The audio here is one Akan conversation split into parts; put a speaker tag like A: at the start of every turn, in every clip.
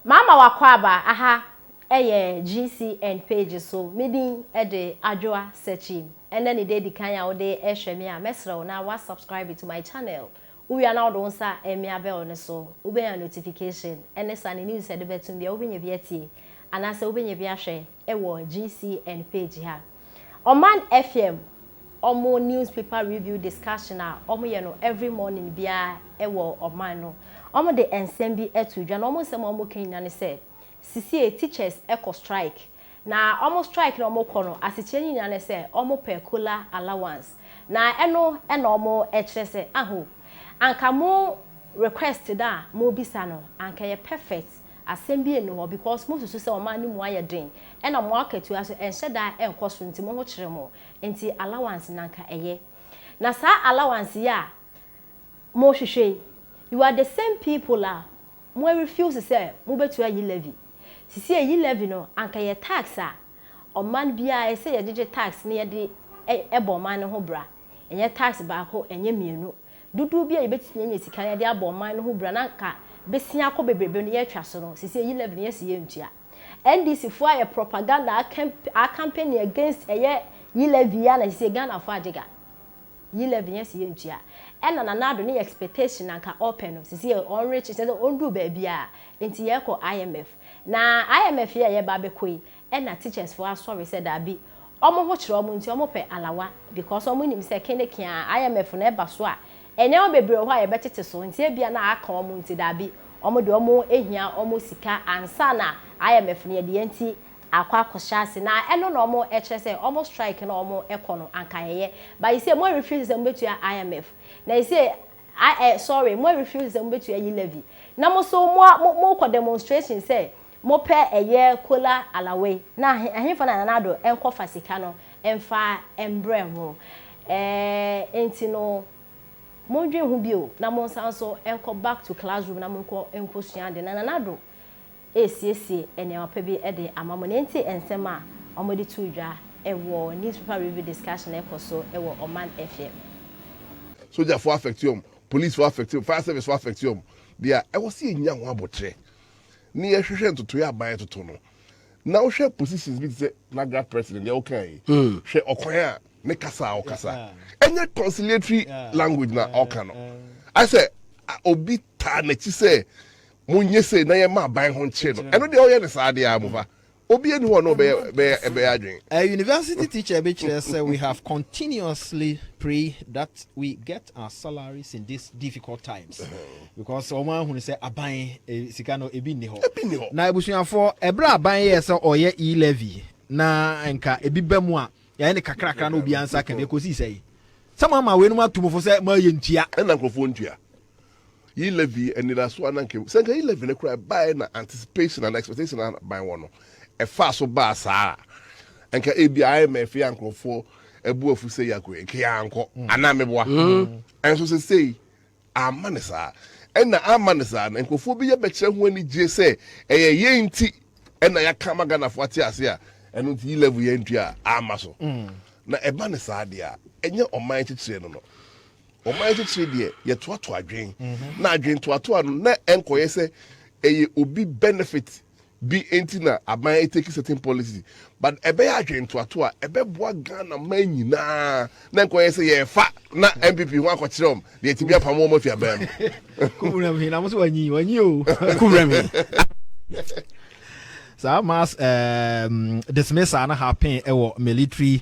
A: M'ama w'akwaaba aha ɛyɛ GCN page so, me din de Adwoa Sekyim, ɛnɛ ne da edi kan a wode ɛhwɛ me a, mɛsrɛ wo na wa subscribe to my channel, wo wie a na wode wo nsa ɛmea bell no so, wobɛnya notification, ɛne sa ne news a ɛde bɛto mu biara, wobɛnya bi atie, anaasɛ wobɛnya bi ahwɛ. wɔ GCN page ha. Ɔman FM ɔmo news paper review discussion a ɔmo yɛ no every morning biara ɛwɔ ɔman no ɔmo de nsɛm bi ɛto dwa na ɔmo nsɛm a ɔmo ka nyina ne sɛ sisie teachers ɛkɔ strike na ɔmo strike na ɔmo kɔ no asekyerɛ ne nyina ne sɛ ɔmo pɛ kola allowance na ɛno ɛna ɔmo ɛkyerɛ sɛ aho anka mo request no a mo bisa no anka ɛyɛ perfect Asɛm bi nni hɔ because mosusu sɛ ɔman no mu ayɛ den ɛna mo akatua nso ɛnhyɛ da nkɔ soro nti mo ho kyere mo nti allowance no anka ɛyɛ na saa allowance yi a mohwehwɛ yi you are the same people a mo refuse sɛ mobɛtua yi levy sesie yi levy no anka yɛ tax a ɔman biara ɛsɛ yɛgyegye tax na yɛde bɔ ɔman no ho bra. Ɛnyɛ tax baako, ɛnyɛ mmienu. Dodoɔ bi a yɛbɛtumi anya sika na yɛde abɔ ɔman no ho bra na anka bɛsia akɔ bebrebe no yɛretwa so no, seesei yi levy no yɛse yɛntua. NDC foɔ ayɛ propaganda a campaigning against ɛyɛ yi levy yi a na seesei Ghana foɔ agye ga. Yi levy no yɛse yɛntua. Ɛna Nana Addo ne yɛ expectation na anka ɔpɛ no, seesei ɔnrekye, kyerɛ sɛ ɔnduru baabiara. Nti yɛrekɔ IMF. Na IMF yi a yɛreba abɛkɔ yi, Ɛna teachers foɔ asɔre sɛ daabi ɔmo ho kyerɛ ɔmo nti ɔmo pɛ alawa because ɔmo nim sɛ kene keaa IMF no ɛba so a nneɛma bebree wɔ hɔ a yɛbɛtete so nti ebia na aka ɔmo nti daabi ɔmo deɛ ɔmo hia ɔmo sika ansa na IMF no yɛdeɛ nti akɔ akɔhyɛ ase na ɛno na ɔmo kyerɛ sɛ ɔmo strike no a ɔmo kɔ no anka ɛyɛ but you see mo refuse sɛ mobetua IMF na you see I eh sorry mo refuse sɛ mobetua yi levy na mo so mo mo kɔ demonstration sɛ Mopɛ ɛyɛ Kola Alawe na ɛhefa na Nana Addo nkɔ fa sika no mfa mbrɛ mo ɛɛ nti no mo ndwen ho bio na mo nsan so nkɔ back to class room na mo nkɔ nkɔ sua ade na Nana Addo ɛɛsiesie ɛneɛma pa bi ɛde ama mo na ɛnti nsɛm a ɔmo de too dwa ɛwɔ newspaper review discussion ɛkɔ so ɛwɔ Ɔman FM.
B: Sogya foɔ affect wɔn, police foɔ affect wɔn, fire service foɔ affect wɔn, deɛ ɛwɔ sɛ yɛ nya ho abotrɛ ne yɛhwehwɛ ntotoeɛ aban ɛtoto no na wohwɛ positions bi te sɛ nagra president deɛ wokaa yi hmm. hwɛ ɔkwan a ne kasa a ɔkasa ɛnyɛ conciliatory language na ɔka no asɛ obi taa n'akyi sɛ monyɛ sei na yɛma aban ho nkyere no ɛno deɛ ɔyɛ ne saa deɛ a mofa Obi nni hɔ a na ɔbɛyɛ ɛbɛyɛ adwene. A university
C: teacher bi kyerɛ sɛ we have continuously pray that we get our salaries in this difficult times because wɔn ahunu sɛ aban sika no ebi nni hɔ. Ebi nni hɔ. Na abusuafoɔ ɛberɛ aban yɛɛ sɛ ɔyɛ e-levy na nka ebi ba mu a yɛayɛ ne kakrakra na obiara nsa ka bi ɛkɔsii sɛ yi sɛ mo ama wei nom ato mu fo sɛ mo ayɛ ntua. Ɛna nkurɔfoɔ ntua.
B: Yi Levi anidaso a na anka ehu. Sɛ anka yi Levi no koraa baeɛ na anticipation anaa expectation a ban wɔ no, ɛfaa so baa saa a, anka ebi a ayɛ ma afei a nkurɔfoɔ abu afu sɛ Yakob yi, anka yɛankɔ mm. anaa meboa. Mm. Ɛnso sɛ sei, amma ne saa. Ɛna amma ne saa no, nkurɔfoɔ bi yɛ bɛkyerɛ ho anigyeɛ sɛ ɛyɛ yɛn nti ɛna yɛaka ma Ghanafoɔ ate ase a, ɛno nti yi Levi yɛn ntua a, amma so. Mm. Na ɛba ne saa deɛ a, ɛnyɛ ɔman kyekyerɛ no no. Ɔman titire deɛ yɛtoato adwene na adwene toatoa no na ɛnkɔyɛ sɛ ɛyɛ obi benefit bi nti na aban eteki certain policy but ɛbɛyɛ adwene toato a ɛbɛboa Ghana man nyinaa na ɛnkɔyɛ sɛ yɛrefa na NPP ho akɔkyerɛ wɔn deɛ ɛtumi apamo wɔn afi aban mu. Kuburam hin
C: na mo so wanyi wanyi o. Kuburam hin. Saa mass um, dismissal no happen ɛwɔ military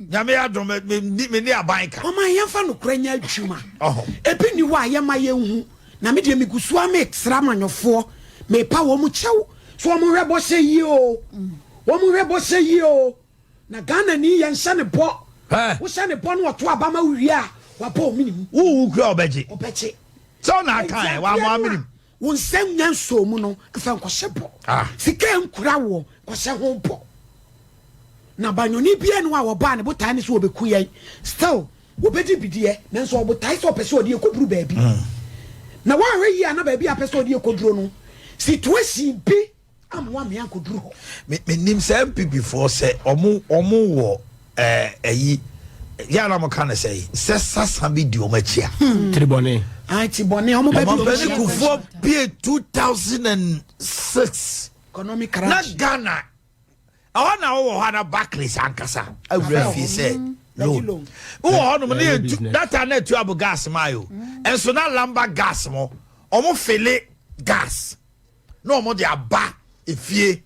D: Nyame adom mene aban ka. Mama yɛmfa nokorɛ
E: nyɛ adwuma. Ebi ni hɔ a yɛma yɛnhu na me deɛ megu so a metra amanyɔfoɔ mepa wɔn kyɛw so wɔn hwɛ bɔhyɛ yie o wɔn hwɛ bɔhyɛ yie o na Ghana ni yɛn hyɛ ne bɔ wohyɛ ne bɔ no ɔto abama wowie a wabɔ ominim. Wowu kura ɔbɛgye.
D: Ɔbɛgye. Sɛ ɔna aka ɛ wama ominim. Wo nsa nnya
E: nsɔɔ mu no, fa nkɔhyɛ bɔ. Ah. Sika a ɛnkura woɔ, kɔhyɛ ho bɔ. Na banyɔni biara ni hɔ a wɔbaa ne botae ne sɛ wɔbɛku yɛn. Still, wɔbɛdi bi deɛ, nanso ɔbotae sɛ ɔpɛ sɛ ɔde yɛn kɔduru baabi. Mm. Na woanhwɛ yie a na baabi a apɛ sɛ ɔde yɛn kɔduro no, situation bi ammoa me ankoduru hɔ. Me menim sɛ
D: NPP foɔ sɛ ɔmo ɔmo wɔ ɛɛ ɛyi yɛ anam ka ne sɛ sɛ sasa bi di ɔmo akyi a. Hmm. Tiribɔne.
C: Ah tiribɔne ɔmo
E: bɛ bi ɔmo akyi. Kufuɔ pie
D: two thousand and six. Economic crash.
E: Na
D: Ghana ɛhɔ na ɔwɔ hɔ ana Barclays ankasa awura fie sɛ loan. Wɔ hɔ nom ne yɛ data na etu abo gas maa yo. Ɛnso na lamba gas mo ɔmo fele gas. na ɔmo de aba efie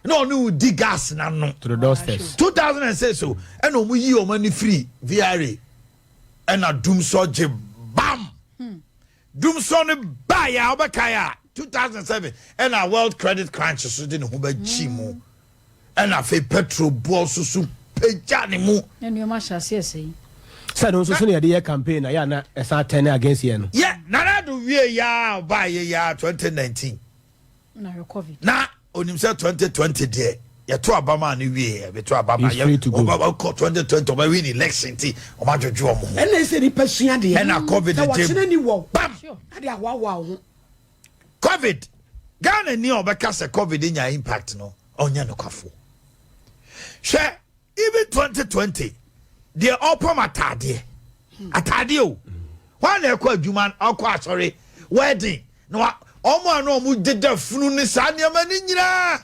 D: na ɔne wo di gas na no. to the doorsteps. two
C: thousand and six o
D: ɛna ɔmo yi ɔmo ani firi vra ɛna dumsɔ gye bam dumsɔ no baa yɛ a ɔbɛkae a two thousand and seven ɛna world credit crunch so de ne ho bɛkyi mu Ɛnna afei Petro bɔɔ so su pagyaa ne mu. Na nneɛma ahyɛ aseɛ
F: sɛe. Sɛ ɛno nso
C: so na yɛde yɛ campaign a yɛ a na ɛsan turn against yɛn no. Yɛ Nana Addo wie
D: yɛ a ɔbaa yɛ yɛ a 2019. Na hwɛ
F: covid. Na onim sɛ 2020
D: deɛ yɛto aba maa no wie yɛ bɛto aba maa yɛ ɔba kɔ 2020 ɔba win election ti ɔba dwodwo ɔmo ho. Ɛnna ɛsɛ nipa sua deɛ.
E: Ɛnna covid ntam. Sɛ wɔkyena
D: ni wɔ.
E: Bam. Ɛde ahoahoa
D: wo
E: ho. Covid,
D: Ghana ni a ɔbɛka sɛ Covid nya impact no, ɔnyɛ nokwafoɔ. Hwɛ even 2020 deɛ ɔpam ataadeɛ, ataadeɛ o, wɔn na ɛkɔ adwuma, ɔkɔ asɔre, wedding, na wɔn a na wɔn deda funu ne saa nneɛma ne nyinaa.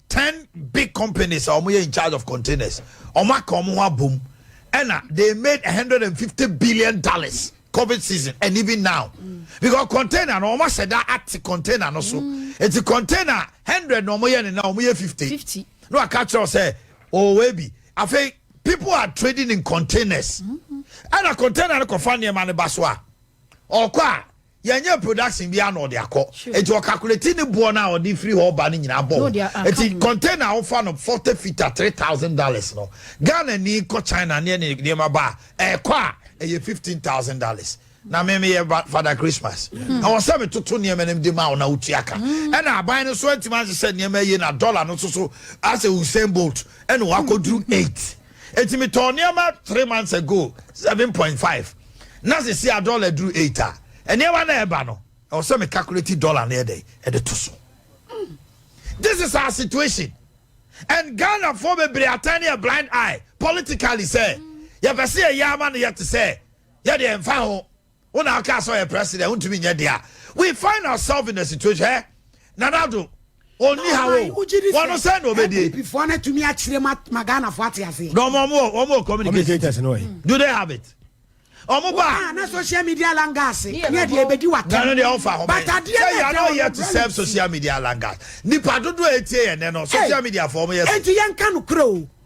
D: Ten big companies a wɔyɛ in charge of containers wɔn aka wɔn ho abom ɛna they made a hundred and fifty billion dollars covid season and even now mm. because container no wɔn ahyɛ da ate container no so mm. eti container hundred na wɔn yɛ ne na wɔn yɛ fifty fifty no aka kyerɛw sɛ ɔwɔ ebi afei people are trading in containers ɛna mm-hmm. container no kɔfa nneɛma no ba so a ɔkɔ a Yɛnyɛ production biara na ɔde akɔ. Eti ɔkakuleti ne boɔ no a ɔde firi hɔ ba no nyinaa bɔ ho. Eti container a wofa no forty feet a three thousand dollars no, Ghana ni kɔ China ne ɛne nneɛma ba a, ɛkɔ a ɛyɛ fifteen thousand dollars. Na me meyɛ Father Christmas. Hmm. Ɛwɔ sɛ metoto nneɛma no de ma wo na wotua ka. Hmm. Ɛna aban no so antumi ahyehyɛ nneɛma yie na dollar no so so asɛ Usain Bolt ɛna wakɔduru eight. Eti me tɔɔ nneɛma three months ago seven point five na sisi a dollar duru eight a nneɛma na ɛba no ɛwɔ sɛ me calculate dollar na ɛdɛ ɛde to so. This is our situation and Ghana for bebree atani a blind eye politically sɛ yɛpɛ sɛ yɛyɛ ama no yɛte sɛ yɛde ɛmfa ho. Wo na aka sɛ ɔyɛ president wontumi nyɛ dea we find ourselves in a situation eh? Nana Addo ɔnni ha wo wɔno sɛ na ɔbɛdie npp no atumi akyerɛ ma
E: ma Ghanafoɔ ate aseɛ na ɔmo ɔmo ɔmo wɔ
D: communicators no ɛ do they have
C: it
D: ɔmo ba na social media
E: langas ne ɛdeɛ ɛbɛdi wata na no deɛ ɔfa ho but
D: adeɛ na ɛda
E: ɔmo yɛ to
D: serve social media langas nipa dodo a ɛtie yɛ nɛ no social media fɔ ɔmo yɛ so ɛnti yɛnka no korɛ o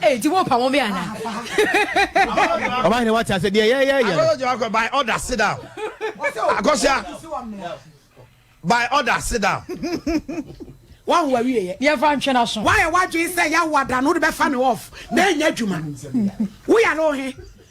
E: Hey,
F: ti wo pa mo be ana.
C: Ọba ni wati ase deɛ yɛ yɛ yɛ. Akɔsɔ jẹ wakɔ by order
D: sit down. Akɔsɔ by order sit down.
E: Wa wo awie yɛ. Yɛ fa ntwɛn aso. Wa
F: yɛ wa dwi sɛ ya wa
E: da no de bɛ fa mi off. Na enya adwuma. Wo yare ohe.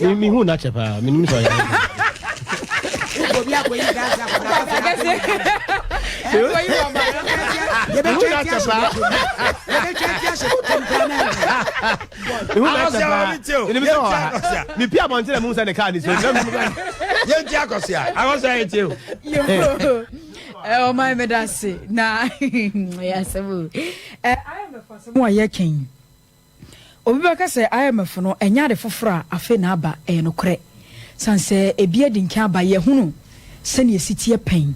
D: Me me hu na kyɛ
G: paa. Me nim sɛ ɔyɛ. mepi abɔntene mu sɛ ne kaa ne sɛ yɛnti
D: akɔsea akɔsɛ yɛtie o ɔma
F: meda se na ɛyɛ asɛm o ɛyɛ mɛfasɛm a yɛkɛn Obi bɛka sɛ IMF no ɛnyɛ ade foforɔ a afei na aba. Ɛyɛ nokorɛ. Sane sɛ ebi adi nkan aba, yɛahunu sɛdeɛ ɛsi teɛ pɛn.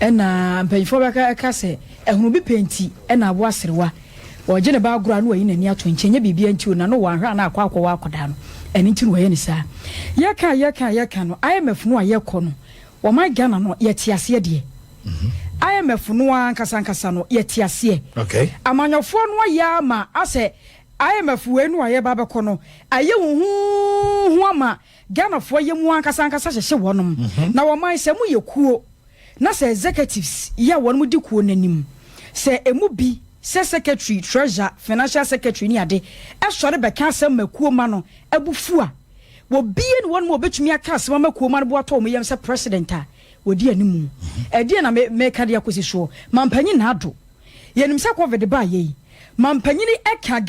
F: Ɛna mpanimfoɔ bɛka ɛka sɛ ahunu bi pɛ nti na aboa aserewa. Ɔregye ne ba agorɔ a na wayi n'ani ato nkyɛn. Ɛnyɛ biribiara nti o, na no wanhwɛ a na akɔ akɔwɔ akwadaa no. Ɛno nti na wayɛ no saa. Yɛka a yɛka a yɛka no, IMF no a yɛkɔ no, wɔman Ghana no, yɛte aseɛ deɛ. IMF no ankasa ankasa no yɛte aseɛ. Amanyɔfoɔ
D: no ayɛ
F: ama asɛ IMF wei no a yɛba bɛkɔ no ayɛ wɔn huuhu ama Ghanafoɔ yɛ mu ankasa ankasa hyehye wɔnom. Mhm. Na wɔman sɛ mo yɛ kuo na sɛ executives yɛ a wɔnom di kuo no anim. Sɛ emu bi sɛ secretary, treasurer, financial secretary ne ade ɛsɔre bɛka asɛm ma kuo ma no abu fu a, wɔbie ne wɔnom a wɔbɛtumi aka asɛm ama kuo ma no bo atɔ wɔn yam sɛ president a. wɔdi animu. Ɛdeɛn na meka de akɔsi soɔ? Mampanyin ha do. Yɛnim sɛ covid baayɛ yi, mampanyin ɛka.